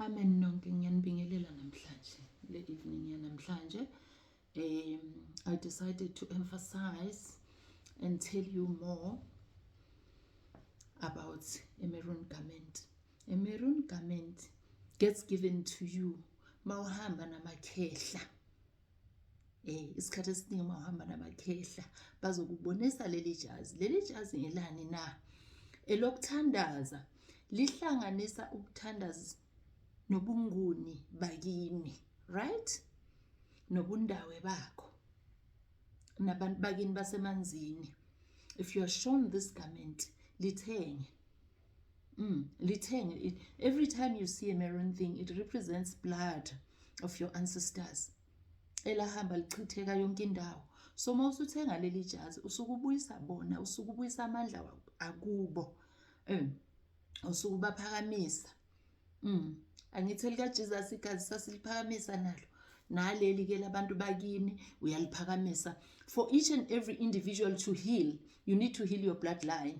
Amen nonke ngiyanibingelela namhlanje le evening yanamhlanje um I decided to emphasize and tell you more about a maroon garment a maroon garment gets given to you mawuhamba namakhehla Eh isikhathi esiningi uma uhamba namakhehla bazokubonisa leli jazi. Leli jazi ngelani na? Elokuthandaza lihlanganisa ukuthandaza nobunguni bakini, right? Nobundawe bakho. Nabantu bakini basemanzini. If you are shown this garment, lithenge. Mm, lithenge it. Every time you see a maroon thing, it represents blood of your ancestors. Elahamba lichitheka yonke indawo. So uma usuthenga leli jazi usukubuyisa bona, usukubuyisa amandla akubo. Um, usukubaphakamisa. Mm. Angithi elikaJesus igazi sasiliphakamisa nalo. naleli ke labantu bakini uyaliphakamisa for each and every individual to heal you need to heal your bloodline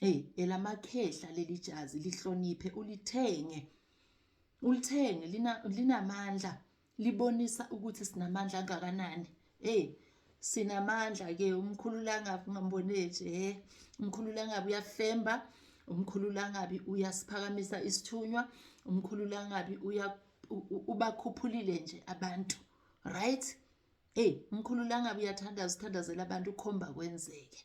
Hey, elamakhehla leli jazi lihloniphe ulithenge. Ulithenge lina linamandla libonisa ukuthi sinamandla angakanani. Hey, sinamandla ke umkhululangabi ungamboneje he eh. umkhululangabi uyafemba umkhululangabi uyasiphakamisa isithunywa umkhululangabi uya ubakhuphulile nje abantu right hey umkhululangabi uyathandaza uthandazela abantu ukhomba kwenzeke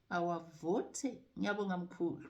awavothe. Ngiyabonga mkhulu.